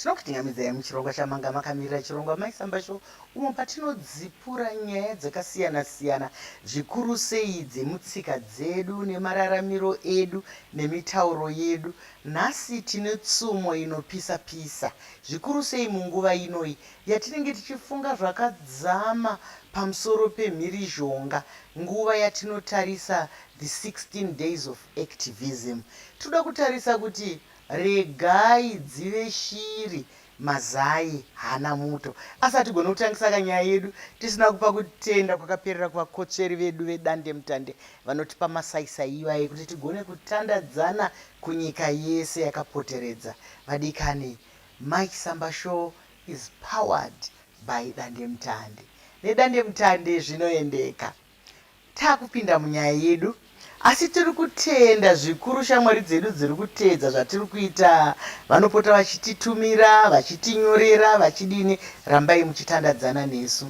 Tinokuchinjamidzai muchirongwa chamanga makamirira chirongwa Mai Samba Show umo patinodzipura nyaya dzakasiyana siyana zvikuru sei dzemutsika dzedu nemararamiro edu nemitauro yedu. Nhasi tine tsumo inopisa pisa zvikuru sei munguva inoi yatinenge tichifunga zvakadzama pamusoro pemhirizhonga nguva yatinotarisa the 16 days of activism. Tinoda kutarisa kuti Regai dzive shiri mazai hana muto. Asi hatigone kutangisa ka nyaya yedu tisina kupa kutenda kwakaperera kuvakotsveri vedu vedandemutande vanotipa masaisai iwaye kuti tigone kutandadzana kunyika yese yakapoteredza vadikani. Mike Samba Show is powered by Dandemutande. Nedandemutande zvinoendeka. Takupinda munyaya yedu asi tiri kutenda zvikuru shamwari dzedu dziri kuteedza zvatiri kuita vanopota vachititumira vachitinyorera vachidini rambai muchitandadzana nesu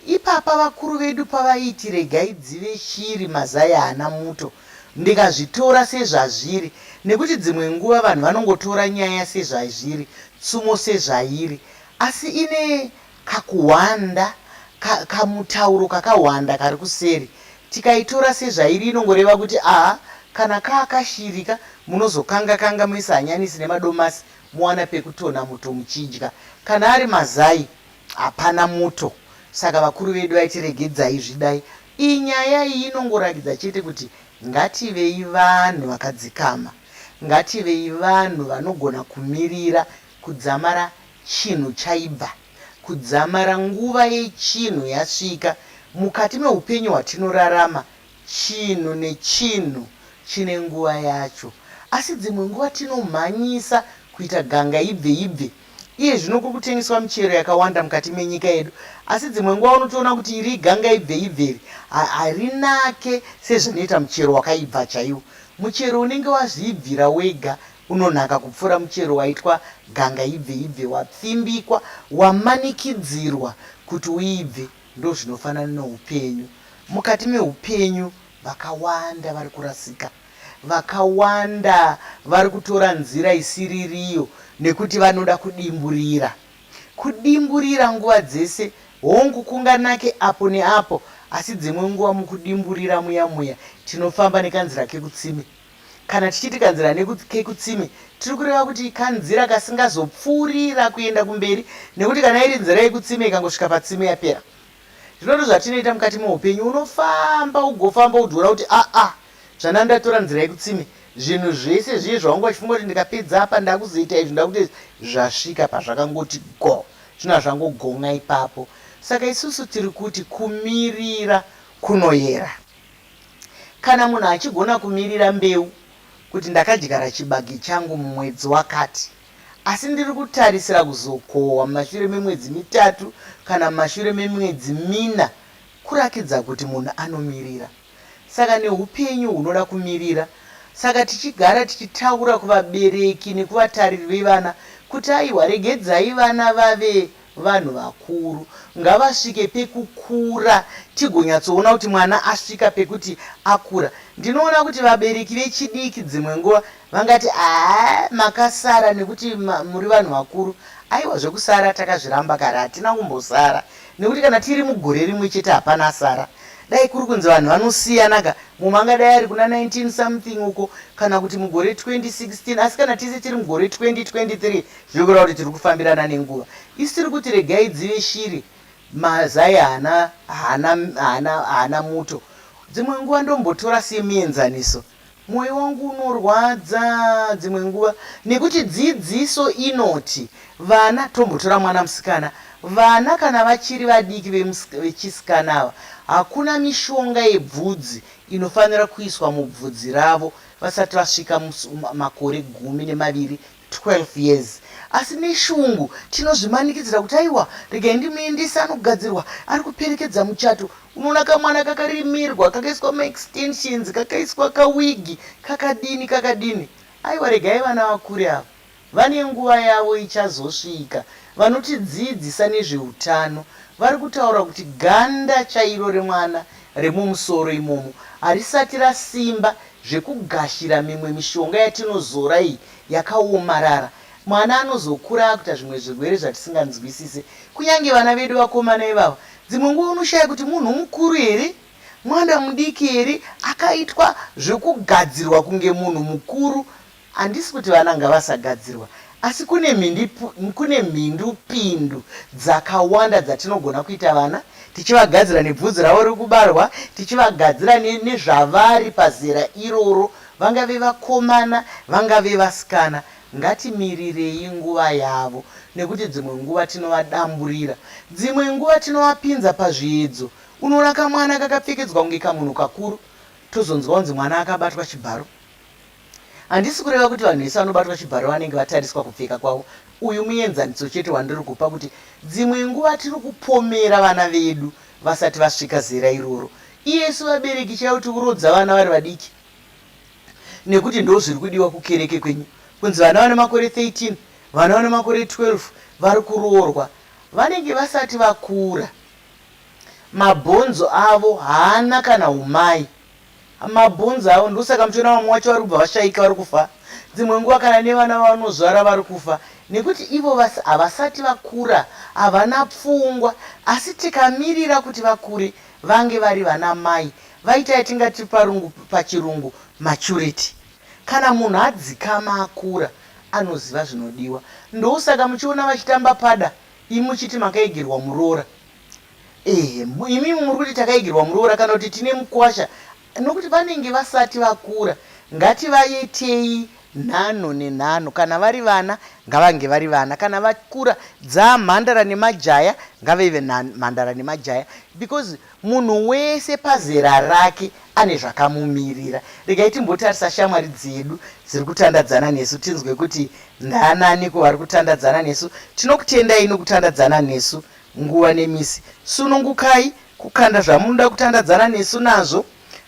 ipapa vakuru vedu pavaiti regai dzive shiri mazai haana muto ndikazvitora sezvazviri nekuti dzimwe nguva vanhu vanongotora nyaya sezvaizviri tsumo sezvairi asi ine Kakuhwanda ka, kamutauro kakahwanda kari kuseri, tikaitora sezvairi inongoreva kuti aa kana kaa kashiri ka, munozokanga kanga moisa hanyanisi nemadomasi mowana pekutonha muto muchidya. Kana ari mazai hapana muto. Saka vakuru vedu vaiti regedzai zvidai. Iyi nyaya iyi inongorakidza chete kuti ngativei vanhu vakadzikama. Ngativei vanhu vanogona kumirira kudzamara Chinhu chaibva. Kudzamara nguva yechinhu yasvika. Mukati meupenyu hwatinorarama, chinhu nechinhu chine nguva yacho. Asi dzimwe nguva tinomhanyisa kuita ganga ibve ibve. Iye zvino kuri kutengeswa michero yakawanda mukati menyika yedu, asi dzimwe nguva unotoona kuti iri ganga ibve ibve iri harinake sezvinoita muchero wakaibva chaiwo. Muchero unenge wazviibvira wega Unonaka kupfuura muchero waitwa ganga ibve ibve wapfimbikwa wamanikidzirwa kuti uibve ndozvinofanana neupenyu mukati meupenyu vakawanda vari kurasika vakawanda vari kutora nzira isiririyo nekuti vanoda kudimburira kudimburira nguva dzese hongu kunganake apo neapo asi dzimwe nguva mukudimburira muya muya tinofamba nekanzira kekutsime Kana tichiti kanzira kekutsime tiri kureva kuti kanzira kasingazopfuurira kuenda kumberi nekuti kana iri nzira yekutsime ikangosvika patsime yapera. Zvino ndozvatinoita mukati meupenyu, unofamba ugofamba udziona kuti aa ah, ah, zvana ndatora nzira yekutsime zvinhu zvese zviye zvaunga uchifunga kuti ndikapedza apa ndakuzoita izvi ndakuita izvi zvasvika pazvakangoti go zvino hazvangogon'a ipapo saka isusu tiri kuti kumirira kunoyera Kana munhu achigona kumirira mbeu kuti ndakadyara chibage changu mumwedzi wakati asi ndiri kutarisira kuzokohwa mumashure memwedzi mitatu kana mumashure memwedzi mina kurakidza kuti munhu anomirira. Saka neupenyu hunoda kumirira. Saka tichigara tichitaura kuvabereki nekuvatariri vevana kuti aiwa regedzai vana vave Vanhu vakuru ngavasvike pekukura tigonyatsoona kuti mwana asvika pekuti akura. Ndinoona kuti vabereki vechidiki dzimwe nguva vangati haa makasara nekuti muri vanhu vakuru. Aiwa zvekusara takazviramba kare hatina kumbosara nekuti kana tiri mugore rimwe chete hapana asara. Dai kuri kunzi vanhu vanosiyanaka mumwe angadai ari kuna 19 something uko kana kuti mugore 2016 asi kana tese tiri mugore 2023 Zviri kureva kuti tiri kufambirana nenguva. Isu tiri kuti regai dzive shiri, mazai haana, haana, haana, haana muto. Dzimwe nguva ndombotora semuenzaniso, mwoyo wangu unorwadza dzimwe nguva nekuti dzidziso inoti vana, tombotora mwana musikana, vana kana vachiri vadiki vechisikana ava, hakuna mishonga yebvudzi inofanira kuiswa mubvudzi ravo vasati vasvika makore gumi nemaviri 12 years asi neshungu tinozvimanikidzira kuti aiwa regai ndimuendese anogadzirwa ari kuperekedza muchato unoona kamwana kakarimirwa kakaiswa maextensions kakaiswa kawigi kakadini kakadini aiwa regai vana vakure ava vane nguva yavo ichazosvika vanotidziidzisa nezveutano vari kutaura kuti ganda chairo remwana remumusoro imomo harisati rasimba zvekugashira mimwe mishonga yatinozora iyi yakawomarara mwana anozokura akuita zvimwe zvirwere zvatisinganzwisise kunyange vana vedu vakomana ivava dzimwe nguva unoshaya kuti munhu mukuru here mwana mudiki here akaitwa zvekugadzirwa kunge munhu mukuru handisi kuti vana ngavasagadzirwa asi kune mhindi kune mhindu pindu dzakawanda dzatinogona kuita vana tichivagadzira nebvudzi ravo riri kubarwa tichivagadzira nezvavari pazera iroro Vangave vakomana, vangave vasikana, ngatimirirei nguva yavo nekuti dzimwe nguva tinovadamburira. Dzimwe nguva tinovapinza pazviedzo. Unoona kamwana kakapfekedzwa kunge kamunhu kakuru tozonzwa kunzi mwana akabatwa chibharo. Handisi kureva kuti vanhu vese vanobatwa chibharo vanenge vatariswa kupfeka kwavo. Uyu muenzaniso chete wandiri kupa kuti dzimwe nguva tiri kupomera vana vedu vasati vasvika zera iroro. Isu vabereki chaivo tikurodza vana vari vadiki nekuti ndozviri kudiwa kukereke kwenyu kunzi vana vane makore 13 vana vane makore 12 vari kuroorwa vanenge vasati vakura mabhonzo avo haana kana umai mabhonzo avo ndosaka muchiona vamwe wacho vari kubva vashaika vari kufa dzimwe nguva kana nevana vavanozvara vari kufa nekuti ivo vasi havasati vakura havana pfungwa asi tikamirira kuti vakure Vange vari vana mai vaita yatingati parungu pachirungu maturity. Kana munhu adzikama akura anoziva zvinodiwa. Ndousaka muchiona vachitamba pada imi muchiti makaegerwa muroora. Ehe imimi muri kuti takaegerwa muroora kana kuti tine mukwasha. Nokuti vanenge vasati vakura ngativaitei nhanho nenhanho kana vari vana ngavange vari vana kana vakura dzaa mhandara nemajaya ngaveve mhandara nemajaya because munhu wese pazera rake ane zvakamumirira regai timbotarisa shamwari dzedu dziri kutandadzana nesu tinzwe kuti ndaanani ko vari kutandadzana nesu tinokutendai nokutandadzana nesu nguva nemisi sunungukai Kukanda zvamunoda kutandadzana nesu nazvo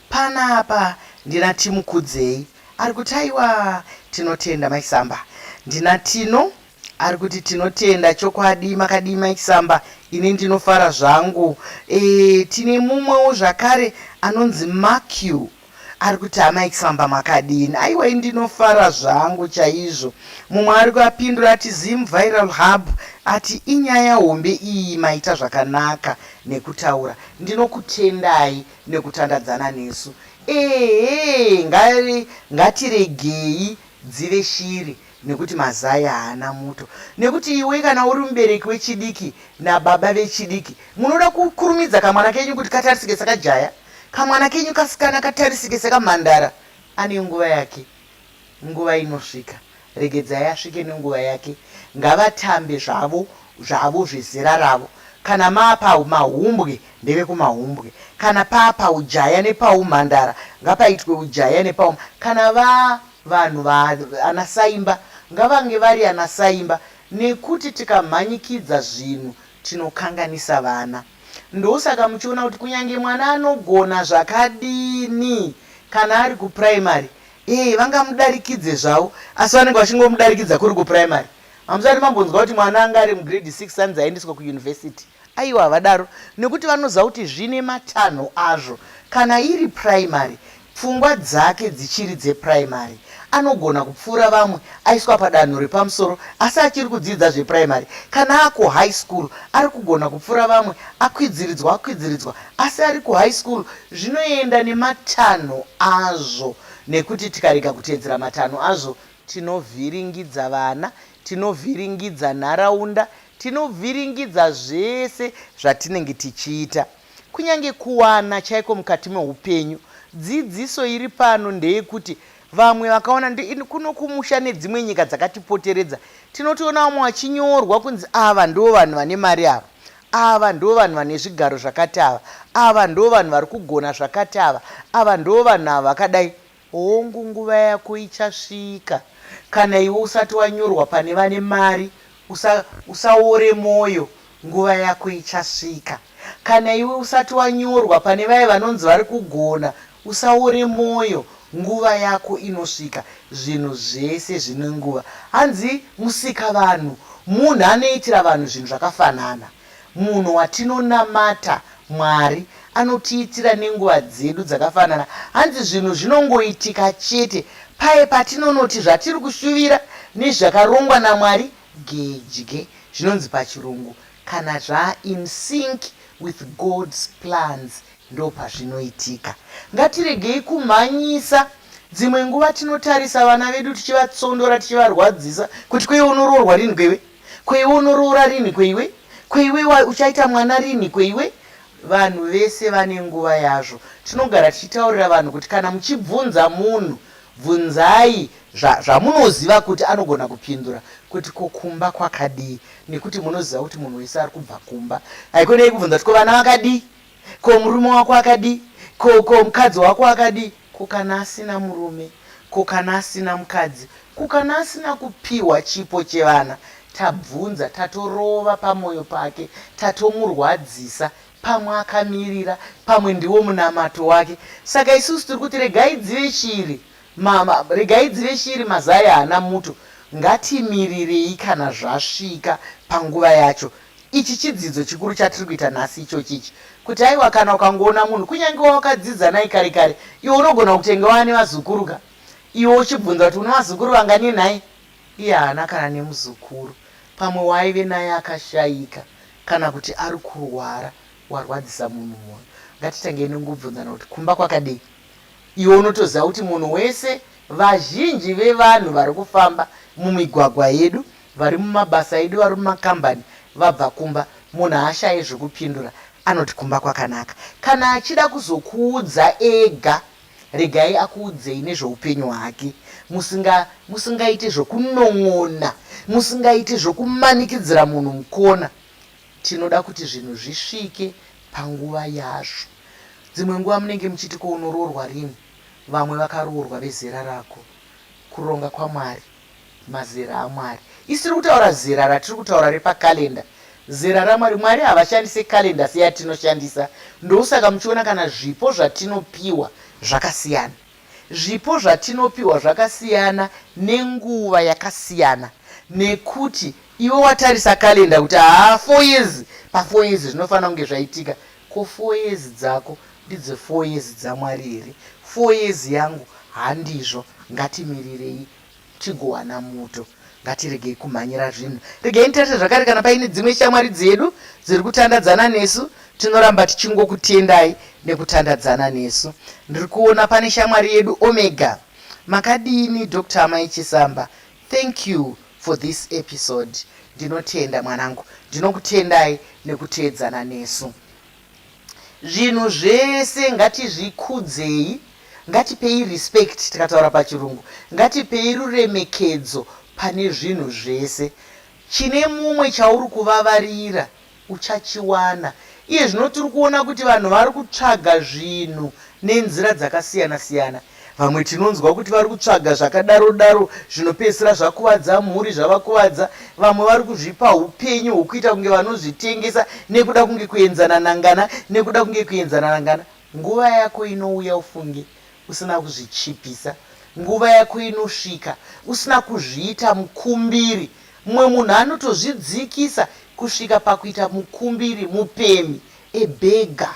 panapa ndina Timukudzei ari kuti aiwa tinotenda Mai Samba. Ndina Tino ari kuti tinotenda chokwadi makadii Mai Samba ini ndinofara zvangu. E, tine mumwewo zvakare anonzi Makiu. Ari kuti amai Kisamba makadini aiwa ini ndinofara zvangu chaizvo mumwe ari kuapindura ati Zim Viral Hub ati inyaya hombe iyi maita zvakanaka nekutaura ndinokutendai nekutandadzana nesu ehee ngari ngatiregei dzive shiri nekuti mazai haana muto nekuti iwe kana uri mubereki wechidiki nababa vechidiki munoda kukurumidza kamwana kenyu kuti katarisike sakajaya Kamwana kenyu kasikana katarisike sekamhandara ane nguva yake nguva inosvika regedzai asvike nenguva yake ngavatambe zvavo zvavo zvezera ravo kana maapa mahumbwe ndevekumahumbwe kana paapa ujaya nepaumhandara ngapaitwe ujaya nepaum kana va vanhu vaanasaimba ngavange vari anasaimba nekuti tikamhanyikidza zvinhu tinokanganisa vana Ndosaka muchiona kuti kunyange mwana anogona zvakadini kana ari kuprimary eeh vangamudarikidze zvavo asi vanenge vachingomudarikidza kuri kuprimary. Hamusati mambonzwa kuti mwana anga ari mugrade six anzi aendeswe kuuniversity. Aiwa havadaro nekuti vanoziva kuti zvine matanho azvo kana iri primary Pfungwa dzake dzichiri dzepuraimari. Anogona kupfuura vamwe aiswa padanho repamusoro asi achiri kudzidza zvepuraimari. Kana akuhigh school ari kugona kupfuura vamwe akwidziridzwa akwidziridzwa asi ari kuhigh school zvinoenda nematanho azvo nekuti tikarega kuteedzera matanho azvo tinovhiringidza vana, tinovhiringidza nharaunda, tinovhiringidza zvese zvatinenge tichiita. Kunyange kuwana chaiko mukati meupenyu, dzidziso iri pano ndeyekuti vamwe vakaona kuno kumusha nedzimwe nyika dzakatipoteredza tinotoona vamwe vachinyorwa kunzi ava ndivo vanhu vane mari ava, ava ndivo vanhu vane zvigaro zvakati ava, ava ndivo vanhu vari kugona zvakati ava, ava ndivo vanhu ava vakadai. Hongu nguva yako ichasvika. Kana iwe usati wanyorwa pane vane mari usa usaore moyo nguva yako ichasvika. Kana iwe usati wanyorwa pane vaye vanonzi vari kugona usaore moyo nguva yako inosvika. Zvinhu zvese zvine nguva. Hanzi musikavanhu munhu anoitira vanhu zvinhu zvakafanana. Munhu watinonamata, Mwari, anotiitira nenguva dzedu dzakafanana. Hanzi zvinhu zvinongoitika chete paye patinonoti zvatiri kushuvira nezvakarongwa naMwari gedye, zvinonzi pachiRungu, kana zvaa in sync with God's plans, ndopazvinoitika. Ngatiregei kumhanyisa. Dzimwe nguva tinotarisa vana vedu tichivatsondora, tichivarwadzisa, kuti ko iwe unoroorwa rinhi ko iwe? Ko iwe unoroora rinhi ko iwe? Ko iwe uchaita mwana rinhi ko iwe? Vanhu vese vane nguva yazvo. Tinogara tichitaurira vanhu kuti kana muchibvunza munhu bvunzai zva, zvamunoziva kuti anogona kupindura kuti ko kumba kwakadii nekuti munoziva kuti munhu wese ari kubva kumba. Haikona yekubvunza kuti ko vana vakadii? Ko murume wako akadii? Ko, ko mukadzi wako akadii? Ko kana asina murume? Ko kana asina mukadzi? Ko kana asina kupihwa chipo chevana? Tabvunza, tatorova pamoyo pake, tatomurwadzisa. Pamwe akamirira, pamwe ndiwo munamato wake. Saka isusu tiri kuti regai dzive shiri, ma, ma, regai dzive shiri mazai haana muto. Ngatimirirei kana zvasvika panguva yacho. Ichi chidzidzo chikuru chatiri kuita nhasi ichochi ichi, kuti aiwa kana ukangoona munhu kunyange wawakadzidza naye kare kare, iwe unogona kutenge wava nevazukuru ka, iwe uchibvunza kuti une vazukuru vangani nhai? Iye haana kana nemuzukuru, pamwe waaive naye akashaika kana kuti ari kurwara, warwadzisa munhu moyo. Ngatitangei nekungobvunzana kuti kumba kwakadei? Iwe unotoziva kuti munhu wese, vazhinji vevanhu vari kufamba mumigwagwa yedu, Vari mumabasa edu, vari mumakambani vabva kumba, munhu haashaye zvekupindura, anoti kumba kwakanaka. Kana achida kuzokuudza ega, regai akuudzei nezveupenyu hwake musinga musingaite zvekunon'ona, musingaite zvekumanikidzira munhu mukona. Tinoda kuti zvinhu zvisvike panguva yazvo. Dzimwe nguva munenge muchiti ko unoroorwa rini, vamwe vakaroorwa vezera rako. Kuronga kwaMwari. Mazera aMwari. Isiri kutaura zera ratiri kutaura repa calendar. Zera raMwari. Mwari havashandise calendar seyatinoshandisa. Ndousaka muchiona kana zvipo zvatinopiwa zvakasiyana. Zvipo zvatinopiwa zvakasiyana nenguva yakasiyana nekuti iwe watarisa calendar kuti haa four years pa four years zvinofanira kunge zvaitika. Ko four years dzako ndidzo four years dzaMwari here? Four years yangu handizvo. Ngatimirirei tigowana muto. Ngatiregei kumhanyira zvinhu. Regai nditarire zvakare kana paine dzimwe shamwari dzedu dziri kutandadzana nesu. Tinoramba tichingokutendai nekutandadzana nesu. Ndiri kuona pane shamwari yedu Omega. Makadini Doctor Amai Chisamba? Thank you for this episode ndinotenda mwanangu ndinokutendai nekuteedzana nesu zvinhu zvese ngatizvikudzei ngatipei respect tikataura pachirungu ngatipei ruremekedzo pane zvinhu zvese chine mumwe chauri kuvavarira Uchachiwana. Iye zvino tiri kuona kuti vanhu vari kutsvaga zvinhu nenzira dzakasiyana-siyana. Vamwe tinonzwa kuti vari kutsvaga zvakadaro-daro zvinopedzisira zvakuvadza mhuri, zvavakuvadza. Vamwe vari kuzvipa upenyu hwokuita kunge vanozvitengesa nekuda kunge kuenzana nangana, nekuda kunge kuenzana nangana. Nguva yako inouya ufunge usina kuzvichipisa. Nguva yako inosvika usina kuzviita mukumbiri. Mumwe munhu anotozvidzikisa kusvika pakuita mukumbiri, mupemhi, a beggar,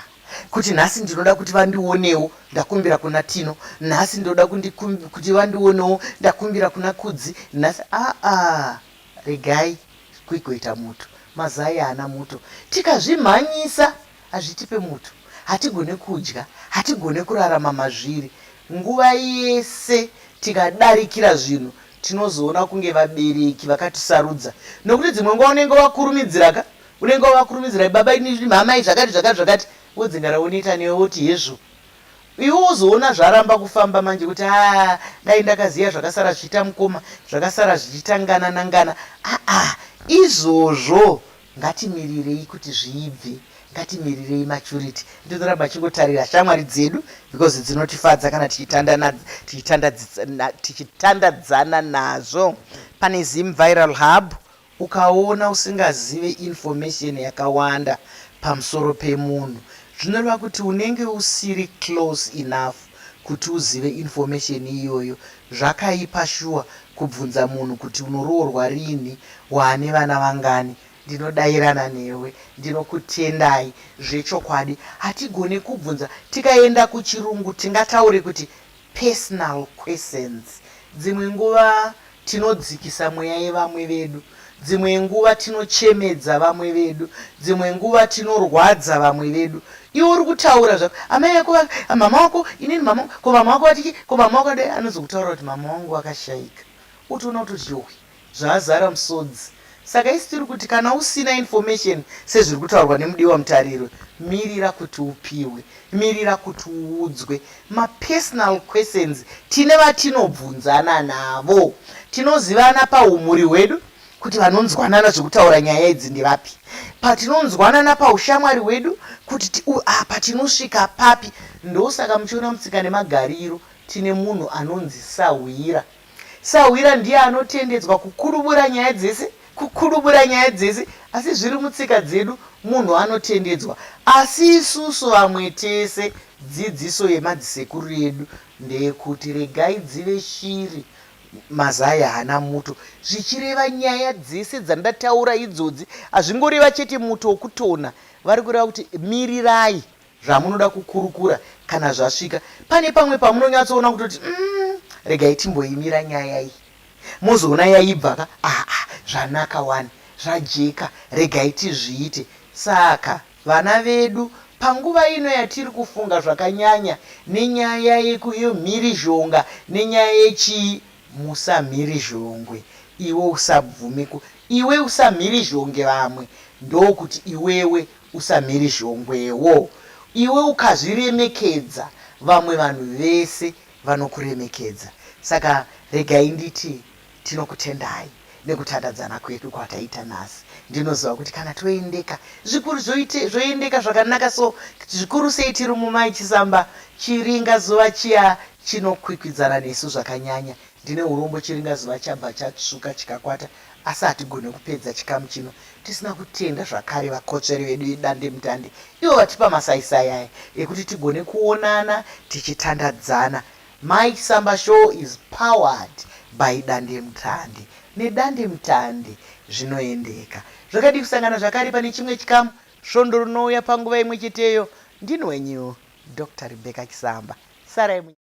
kuti nhasi ndinoda kuti vandionewo ndakumbira kuna Tino, nhasi ndoda kuti vandionewo ndakumbira kuna Kudzi, nhasi aa regai kuigoita muto, mazai haana muto. Tikazvimhanyisa Hazvitipe muto, hatigone kudya, hatigone kurarama mazviri. Nguva yese tikadarikira zvinhu tinozoona kunge vabereki vakatisarudza nokuti dzimwe nguva unenge wakurumidzira ka unenge wavakurumidzira baba ini mhamai zvakati zvakati zvakati vodzingara woneta newe woti hezvo iwe wozoona zvaramba kufamba manje kuti a dai ndakaziva zvakasara zvichiita mukoma zvakasara zvichitangana nangana aa izvozvo Ngatimirirei kuti zviibve. Ngatimirirei maturity. Ndizoramba ndichingotarira shamwari dzedu because dzinotifadza kana tichitandadzana nazvo. Pane Zim Viral Hub ukaona usingazive information yakawanda pamusoro pemunhu zvinoreva kuti unenge usiri close enough Kuti uzive information iyoyo zvakaipa shuwa kubvunza munhu kuti unoroorwa rinhi waane vana vangani ndinodairana newe ndinokutendai zvechokwadi hatigone kubvunza tikaenda kuchirungu tingataure kuti personal questions dzimwe nguva Tinodzikisa mweya yevamwe vedu. Dzimwe nguva tinochemedza vamwe vedu. Dzimwe nguva tinorwadza vamwe vedu. Iwe uri kutaura zvako, amai vako va, mama wako, inini mama wangu, ko mama wako vati chii, ko mama wako vadai, anozokutaurira kuti mama wangu vakashaika. Wotoona kutoti yohwi, zvazara musodzi. Saka isu tiri kuti kana usina information sezviri kutaurwa nemudiwa mutariro, mirira kuti upihwe, mirira kuti uudzwe mapersonal questions. Tine vatinobvunzana navo, tinozivana pahumhuri hwedu kuti vanonzwanana zvekutaura nyaya idzi ndevapi, patinonzwanana paushamwari hwedu kuti apa tinosvika papi. Ndosaka muchiona mutsika nemagariro tine munhu anonzi sahwira. Sahwira ndiye anotendedzwa kukurubura nyaya dzese kukurubura nyaya dzese asi zviri mutsika dzedu munhu anotendedzwa asi isusu vamwe tese dzidziso yemadzisekuru edu ndeyekuti regai dzive shiri mazai haana muto zvichireva nyaya dzese dzandataura idzodzi hazvingoreva chete muto wokutona vari kureva kuti mirirai zvamunoda kukurukura kana zvasvika pane pamwe pamunonyatsoona kutoti umm regai timboimira nyaya iyi mozoona yaibva ka aa zvanaka wani zvajeka regai tizviite saka vana vedu panguva ino yatiri kufunga zvakanyanya nenyaya yemhirizhonga nenyaya yechii musamhirizhongwe iwe usabvume ku iwe usamhirizhonge vamwe ndokuti iwewe Usamhiri zhongwewo iwe ukazviremekedza vamwe vanhu vese vanokuremekedza saka regai nditi tinokutendai nekutandadzana kwedu kwataita nhasi ndinoziva kuti kana toendeka zvikuru zvoite zvoendeka zvakanaka so zvikuru sei tiri mumai chisamba chiringa zuva chiya chinokwikwidzana nesu zvakanyanya Ndine urombo chiringa zuva chabva chatsvuka chikakwata asi hatigone kupedza chikamu chino tisina kutenda zvakare vakotsveri vedu vedandemutande ivo vatipa masaisai aya ekuti tigone kuonana tichitandadzana. Mai Samba Show is powered by dandemutande. Nedandemutande zvinoendeka. Zvakadii kusangana zvakare pane chimwe chikamu svondo rinouya panguva imwe cheteyo. Ndini wenyu Doctor Rebecca Chisamba. Sarai munyama.